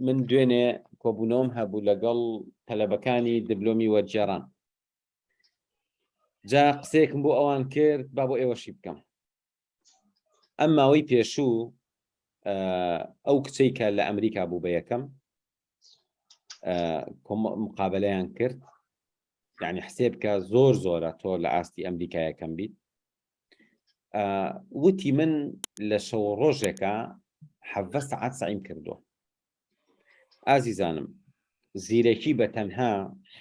من دوێنێ کۆبوونەوەم هەبوو لەگەڵ تەلەبەکانی دبلۆمی وەرجێران جا قسێکم بۆ ئەوان کرد با بۆ ئێوەشی بکەم ئەم ماوەی پێشوو ئەو کچەی کە لە ئەمریکا بوو بە یەکەم مقابلیان کرد یعنی حسێب کە زۆر زۆرە تۆ لە ئاستی ئەمریکایەکەم بیت وتی من لە شەوە ڕۆژێکە حەڤە سەعات سعیم کردووە ئازیزانم زیرەکی بە تەنها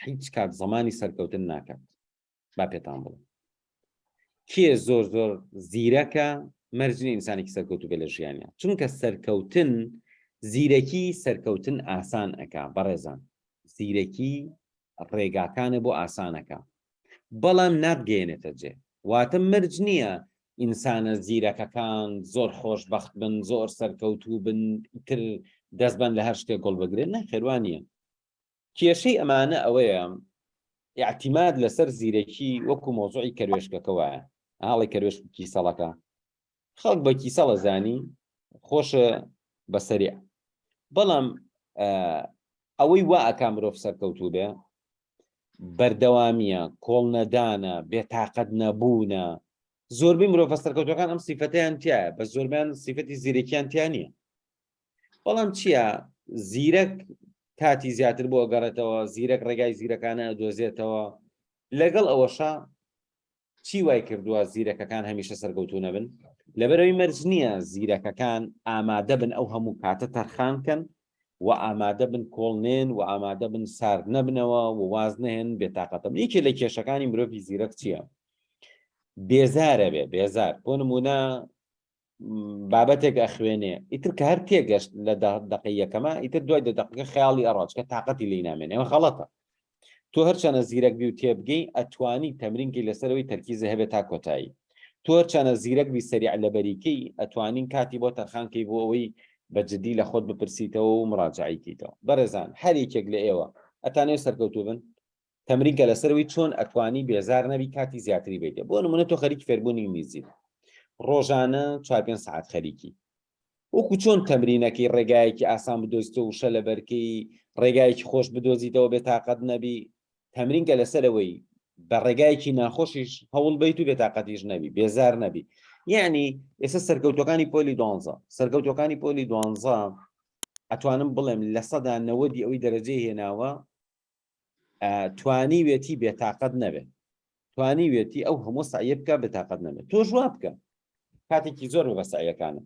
هیچ کات زمانی سەرکەوتن ناکات با پێتان بڵێ کێ زۆر زۆر زیرەکە مەرجنی ئینسانێکی سەرکەوتو بێ لە ژیانە چونکە سەرکەوتن زیرەکی سەرکەوتن ئاسان ئەک بەڕێزان زیرەکی ڕێگاکانە بۆ ئاسانەکە بەڵام ناتگەیەنێتە جێ واتە مەرج نییە ئینسانە زیرەکەکان زۆر خۆش بەخت بن زۆر سەرکەوتوو بن تر دەستبەن لە هەر شتێک گۆڵ بگرێت نە خێوانە کێشەی ئەمانە ئەوەیە یاعتیماد لەسەر زیرەکی وەکو مۆزوعی کەروێشکەکەوە ئاڵی کەروێشکی سەڵەکە خەڵک بە کیسەڵە زانی خۆشە بە سەریا بەڵام ئەوەی وا ئەکا مرۆڤ سەرکەوتوو بێ بەردەوامیە کۆڵنەدانە بێتاقەت نەبوونە زۆربەی مرۆڤە سەرکەوتەکان ئەم سیفەتیان تایە بە زۆربیان سیفەتی زیرەکیان تیا نییە بەڵام چییە زیرەک کاتی زیاتر بۆ گەڕێتەوە زیرەک ڕێگای زیرەکانە دۆزێتەوە لەگەڵ ئەوەشە چی وای کردووە زیرەکەکان هەمیشە سەرکەوتوو نەبن؟ لەبەرەوەی مەرج نییە زیرەکەکان ئامادە بن ئەو هەموو کاتە تەرخان کەن و ئامادە بن کۆڵ نێن و ئامادە بن سارد نەبنەوە و واز نەهێن بێتاقەتە بن یەکێ لە کێشەکانی مرۆڤی زیرەک چییە؟ بێزارە بێ بێزار بۆ نمونە بابەتێک ئەخوێنێ ئیتر کە هەر تێگەشت لە دەقیەکەمە ئیتر دوای دە دەقەکە خیاڵی ئەڕاج کە تااقەتی لی نامێن ئەمە خەڵەتە تۆ هەرچەنە زیرەک بی و تێبگەی ئەتوانی تەمرینکی لەسەرەوەی تەرکیزە هەبێت تا کۆتایی تۆ هەرچەنە زیرەک بی سەریع لە بەریکەی ئەتوانین کاتی بۆ تەرخانکەی بۆ ئەوەی بە جددی لە خۆت بپرسیتەوە و مراجعیتەوە بەڕێزان هەر یەکێک لە ئێوە ئەتانێ سەرکەوتوو بن تەمرین کە لەسەر وی چۆن ئەتوانی بێزار نەبی کاتی زیاتری بێتێ بۆ نمونە تۆ خەریکی فێربوونی ئینگلیزی ڕۆژانە چوار پێنج سعات خەریکی وەکو چۆن تەمرینەکەی ڕێگایەکی ئاسان بدۆزیتە وشە لە بەرکەی ڕێگایەکی خۆش بدۆزیتەوە بێ تااقەت نەبی تەمرین کە لەسەرەوەی بە ڕێگایەکی ناخۆشیش هەوڵ بیت و بێ تااقەتیش نەبی بێزار نەبی یعنی ئێستا سەرکەوتەکانی پۆلی دوانزە سەرکەوتەکانی پۆلی دوانزە ئەتوانم بڵێم لە سەدا نەوەدی ئەوی دەرەجەی هێناوە توانیوێتی بێتاقەت نەبێت توانیوێتی ئەو هەموو سعە بکە بێتاقەت نەبێت تۆ ژوا بکە کاتێکی زۆر بە سعەکانم